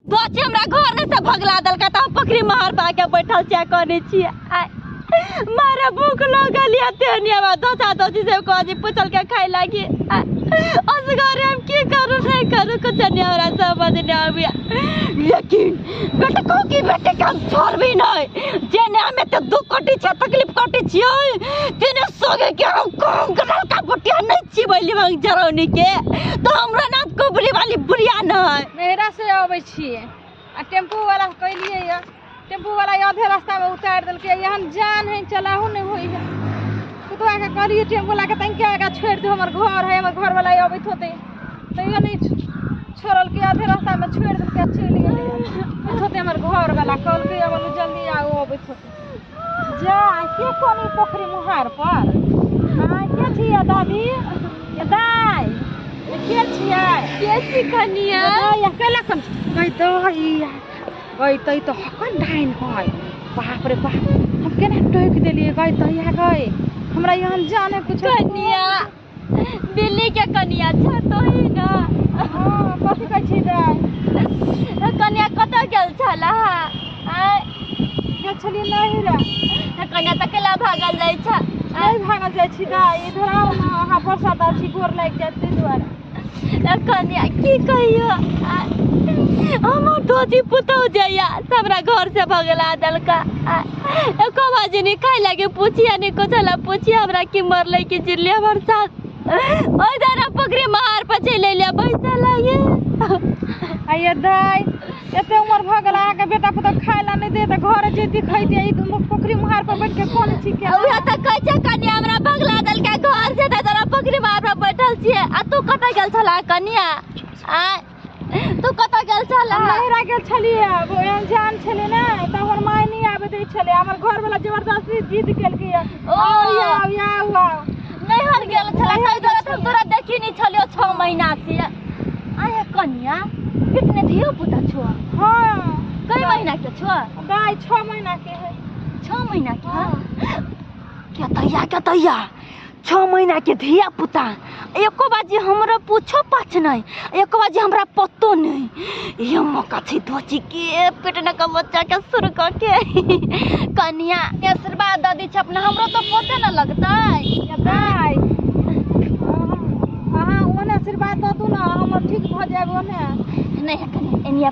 बच्चे हमरा घर में से भगला देलका त हम पकड़ी महर पा के बैठल छिया कने छिया आय, मारे भूख लगल या तेनिया बा दोसा दोसी से कह जी पूछल के खाए लागी आय, असगरे हम की करू नहीं करू कुछ नहीं हमरा समझ नहीं आबिया लेकिन बेटा को की बेटे काम छोड़ भी नहीं जेने हमें तो दुख कटी छे तकलीफ कटी छियो तेने सोगे के हम काम करल का बटिया नहीं छी बैली मांग जरौनी के तो हमरा नाम कुबरी वाली बुढ़िया नहीं नैहरा से अबै छियै आ टेम्पू वाला कैलियै यऽ टेम्पू वाला आधे रास्ता में उतार देलकै एहन जान है चलाहू नहीं होई है कुतवा के कहलियै टेम्पू वाला के तनिके आगा छोड़ दो हमर घर है हमर घर वाला अबैत होते तैयो नहीं छ- छोड़लकै आधे रास्ता में छोड़ देलकै चलि गेलै अबैत होते हमर घर वाला कहलकै अब जल्दी आओ अबैत होते जा के कोन ई पोखरी मुहार पर हाँ के छियै दादी के दाय के छियै के छी कनिया दाय अकेला कम गई दही गई तई तो हकन डाइन है बाप रे बाप हम केना टोक देलिए गई दही गई हमरा यहाँ जाने कुछ कनिया दिल्ली के कनिया छ तो ही ना हाँ कथी कहै छी दाय कनिया कतऽ गेल छला आय गेल छलिए नहीं रे कनिया तऽ केला भागल जाइ छ नहीं भागल जाइ छी दाय इधर आओ ना अहाँ वर्षा दा छी गोर लागि जायत ताहि दुआरे कनिया की कहियो आय, हमर धोती पुतौ जाइया हमरा घर से भगला देलका आय एको बाजी नहीं खाए लगे पूछिया नहीं कुछ ला पूछिया हमरा की मर ले की जिले हमर साथ ओई दारा पकड़े मार पचे ले ले पैसा लाए आइए दाई एते उम्र भ गेल अहाँके बेटा पुता खाय ला नहि दे तऽ घर जेती खैती ई दुनू पोखरी मुहार पर बैठ के कोन छी के उहे त कहै छै कन्या हमरा भगला देल के घर से त तोरा पकड़े मार पर बैठल छिए आ तू कतऽ गेल छला कन्या आ तू कतऽ गेल छल हम नहिरा गेल छलियै आब एहन जान छलै ने तऽ हमर माय नहि आबे दै छलै हमर घर वाला जबरदस्ती जिद केलकै या ओ। आउ या आउ या आउ आउ नैहर गेल छल नैहर ताहि दुआरे गेल हम तोरा देखी नहीं छलियो छह महीना से आया कनिया कितने धियो पुता छो हाँ कई महीना के छो गाय छः महीना के है छह महीना के हाँ। केतैया केतैया छओ महीनाके धिया पुता एको बार जे हमरा पूछो पाछ नहि एको बार जे हमरा पतो नहि ये अम्मा कथी धोची के पेटने का बच्चा के शुरू कऽ के कनिया के आशीर्वाद दऽ दी छै अपना हमरो तो पोते न लगतै दाइ अहाँ ओने आशीर्वाद दऽ दू ने हम ठीक भऽ जायब ओने नहि कनिया एनिया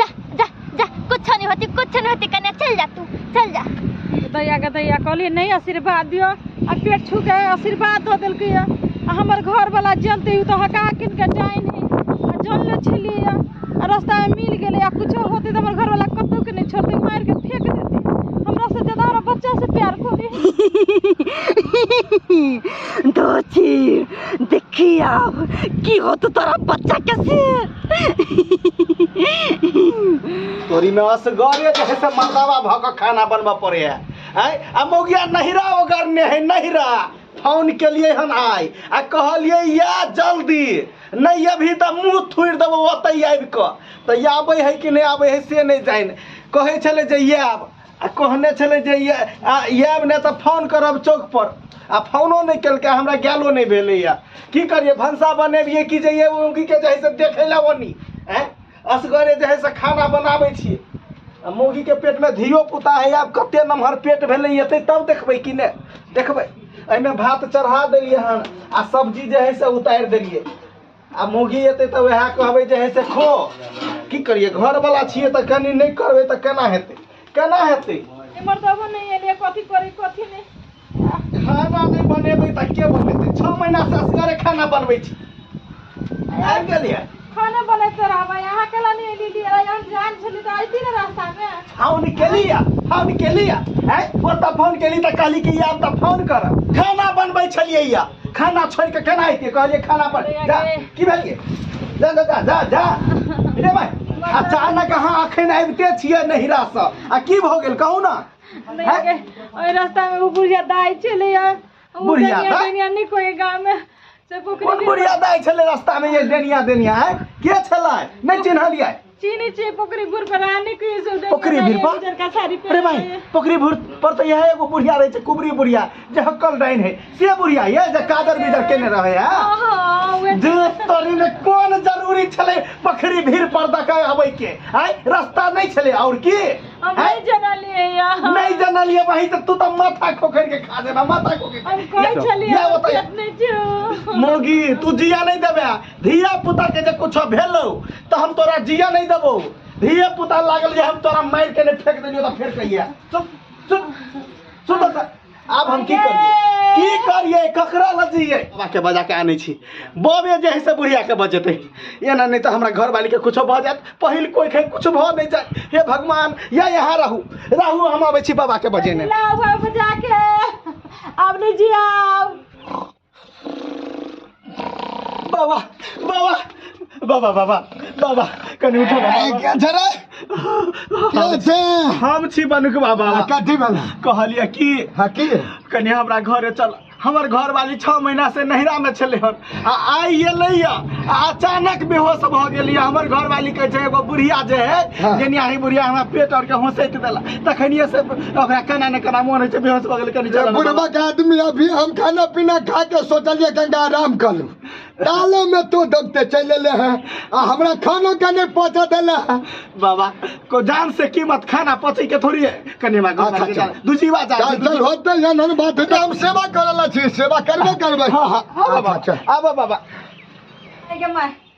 जा जा जा कुछ नहीं होती कुछ नहीं होती कन्या चल जा तू चल जा गदैया गदैया कहलिए नहीं आशीर्वाद दियो आ पेट छू के आशीर्वाद दऽ देलकै आ हमर घर वाला जनते तो हका किन के डाइन है आ जन ले छलिए आ रास्ता में मिल गेलै आ कुछो होते तो हमर घर वाला कतौ के नहीं छोड़ते मार के फेंक देते हमरा से ज्यादा हमरा बच्चा से प्यार करे दो चीर देखी आब की होत तोरा बच्चा के से तोरी में असगरे जे है से मर्दावा भऽ कऽ खाना बनबऽ पड़े है आय आ मौगिया नहिरा ओगरने है नहिरा फोन केलिए हन आय आ कहलिए या जल्दी नहीं अभी तऽ मुँह थुड़ि देबो ओतै आबि कऽ तऽ आबै है कि नहि आबै है से नहि जानि कहै छलै जे आयब आ कहने छलै जे ये- आ आयब नहि तऽ फोन करब चौक पर आ फोनो नहि केलकै हमरा गैलो नहि भेलैया की करियै भनसा बनेबियै कि जे ये उनकी के जे है से देखै लए ओनी आँय? असगरे जे है से खाना बनाबै छियै आ मौगी के पेट में धियो पुता है आब कते नमहर पेट भेलै एतै तब देखबै कि नहि देखबै एहिमे भात चढ़ा देलियै हन आ सब्जी जे है से उतारि देलियै आ मौगी एतै तऽ वएह कहबै जे है से खो की करिए घर वाला छिए तऽ कनी नहि करबै तऽ केना हेतै केना हेतै एमर तो वो नहीं है कथी करे कथी नहीं खाना नहीं बनेबै तऽ के बनेतै 6 महीना से असगरे खाना बनबै छी आबि गेलिए खाना बनैते रहबै अहाँ केला नहि एली लिए यहाँ जान छली तऽ आइती ने रास्ता मे हाउ निकलिया हाउ निकलिया है ओ तऽ फोन केली तऽ कहली कि आब तऽ फोन कर खाना बनबै छलिए या खाना छोड़ के केना आइते कहलिए खाना पर जा की भेलिए जा जा जा जा जा रे भाई अचानक अहाँ अखन आबिते छियै नहिरा से आ की भऽ गेल कहू ना नहीं के ओए रास्ता में वो बुढ़िया दाई चले यार वो बुढ़िया दुनिया- दाई? दुनिया नहीं कोई गांव में से कोन पोखरी बुढ़िया दाइ छलै रास्ता में ये डेनिया देनिया है के छलै नहि चिन्हलियै चीनी ची पोखरी भूर पर आने के से उधर पोखरी भूर पर? उधर का सारी पे अरे भाई पोखरी भूर पर तो यह एगो बुढ़िया रहे छै कुबरी बुढ़िया जे हक्कल डाइन है से बुढ़िया ये जे कादर बिदर केने रहे है ओहो वे जे तोरी में कोन जरूरी छले पोखरी भीड़ पर दका आबै के आय रास्ता नहीं छले और की हम आय? नहीं जना लिए या नहीं जनलिए भाई तो तू तो माथा खोखर के खा देना माथा खोखर हम कोई छलिए या बताइए अपने जो मोगी तू जिया नहीं देबे धिया पुता के जे कुछ भेलो तो हम तोरा जिया नहीं देबो धिया पुता लागल जे हम तोरा मार के ने फेंक देलियो तो फिर कहिया चुप चुप सुन बता आब हम की करिए की करिए ककरा लजिए बाबा के बजा के आने छी बबे जे है से बुढ़िया के बजेते एना नहीं तो हमरा घर वाली के कुछ भ जात पहिल कोई के कुछ भ नहीं जात हे भगवान या यहाँ रहू रहू हम आबै छी बाबा के बजेने लाओ घर बजा के अब नहीं जियाओ बाबा बाबा बाबा बाबा बाबा कनि उठो ना ए, के छ रे? के छ? हम छी बनुक बाबा आ, कथी भेल कहलिए कि हाँ की कनि हमरा घरे चल हमर घरवाली छः महीना से नहिरा में छलै हन आ आइ एलै आ अचानक बेहोश भऽ गेलियै हमर घरवाली कहै छै एगो बुढ़िया जे है हाँ। जेनियाही बुढ़िया हमरा पेट आर के होसैत देला तखनिए से ओकरा केना ने केना मोन होइ छै बेहोश भऽ गेल कनि चलऽ ने। बुढ़बा के आदमी अभी हम खाना पीना खा के सोचलिए गंगा आराम कर लूं। ताले में तो दबते चल एले हैं आ हमरा खानो के नहीं पहुंचा देले हैं बाबा को जान से कीमत खाना पची के थोड़ी है कनि हमरा घर अच्छा, के चल। जान- दूजी बात जान- चल चल होते हैं नन बात है तो हम सेवा करला छी सेवा करबे करबे हाँ, हाँ, आबो अच्छा, बाबा, अच्छा। आबो बाबा के माय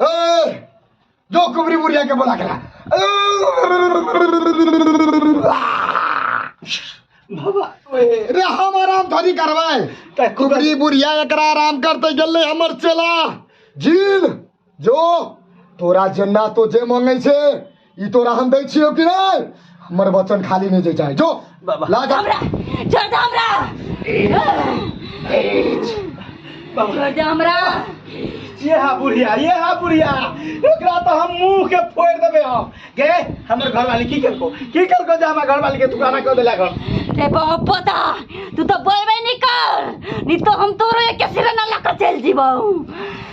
ए जो कुबरी बुढ़िया के बोला करा बाबा ओए रे हम आराम थोड़ी करवाए तै खूब कुबरी बुढ़िया एकरा आराम करते गेले हमर चेला जील जो तोरा जेना तो जे मांगे छे ई तोरा हम दै छियौ कि नहि हमर वचन खाली नहि जे चाहे जो बाबा। ला जा हमरा छोड़ दे हमरा छोड़ दे हमरा ये हा बुढ़िया ये हा बुढ़िया एकरा तो हम मुंह के फोड़ देबे हम गे हमर घर वाली की करको की करको जे हमर घर वाली के दुकाना कर देला घर रे बाबा पोता तू तो बोलबे नहीं कर नहीं तो हम तोरो एक सिरे ना लाकर चल जीबो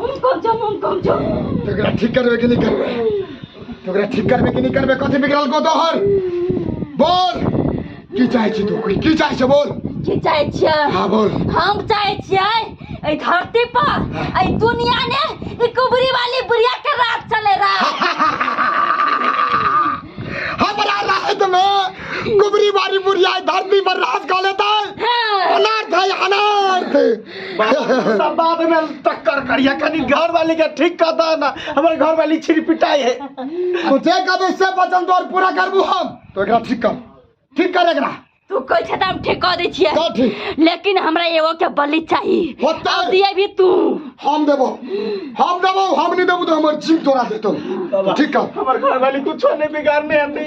हम कब जाम हम कब जाम तो ओकरा ठीक करबे कि नहीं करबे तो ओकरा ठीक करबे कि नहीं करबे कथी बिगड़ल को तोहर बोल की चाहे छी तू कोई की चाहे छै बोल की चाहे छियै हाँ बोल हम चाहे छियै एहि धरती पर एहि दुनिया ने ई कुबरी वाली बुढ़िया के राज चले रहा हमरा राहत में कुबरी बारी बुढ़िया धरती पर राज कर लेता है अनार्थ है अनार्थ सब बाद में टक्कर करिया कनी घर वाली के ठीक कर दा ना हमर घर वाली छिरी पिटाई है तू जे कभी से बचल तोर पूरा करबू हम तो एकरा ठीक कर ठीक कर एकरा तू कहै छै त हम ठीक कऽ दै छियै कर ठीक लेकिन हमरा एगो के बलि चाही होतै। अब दिए भी तू हम देबो हम देबो हम नहीं देबो तो हमर जीव तोरा देतो ठीक कर हमर घर वाली कुछो नहीं बिगाड़ने आती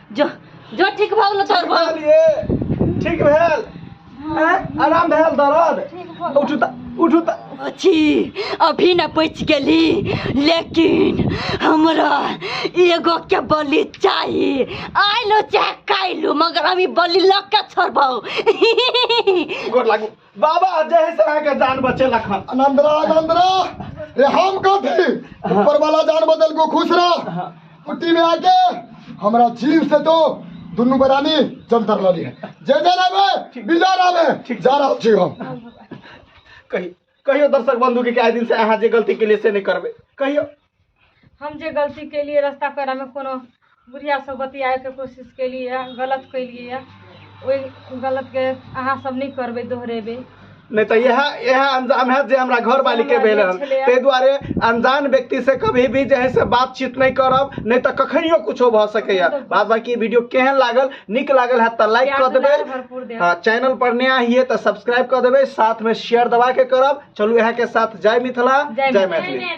जो जो ठीक भऽ गेलो तोर भऽ गेलिए ठीक भेल हैं? आराम भेल दर्द उठू त उठू त अछि अभी न पच गेली लेकिन हमरा एगो के बलि चाही आइलो चाहे काइलो मगर अभी बलि लऽ के छोड़बौ गोर लागू बाबा जय से अहाँके जान बचेलक हन आनंद रह आनंद रह रे हम कथी ऊपर वाला जान बदल को खुश रह कुट्टी में आके हमरा जीव से तो दुनू बरानी जंतर लली है जय जय रामे विजय रामे जा रहा छी हम कही कहियो दर्शक बंधु के कि आइ दिन से अहाँ जे गलती के लिए से नहीं करबे कहियो हम जे गलती केलियै रस्ता पेरामे कोनो बुढ़ियासँ बतियाएके कोशिश केलियै गलत केलियै ओहि गलतके अहाँ सब नहि करबै दोहरेबै नहि तऽ इएह इएह अंजाम है जे हमरा घर वाली के भेल हन ताहि दुआरे अनजान व्यक्ति से कभी भी जे है से बातचीत नहीं करब नहीं तो कखनियो कुछो भ सके है बाद बाकी वीडियो केहन लागल निक लागल है तो लाइक कर देबे हाँ चैनल पर नया हिए तो सब्सक्राइब कर देबे साथ में शेयर दबा के करब चलू यहाँ के साथ जय मिथिला जय मैथिली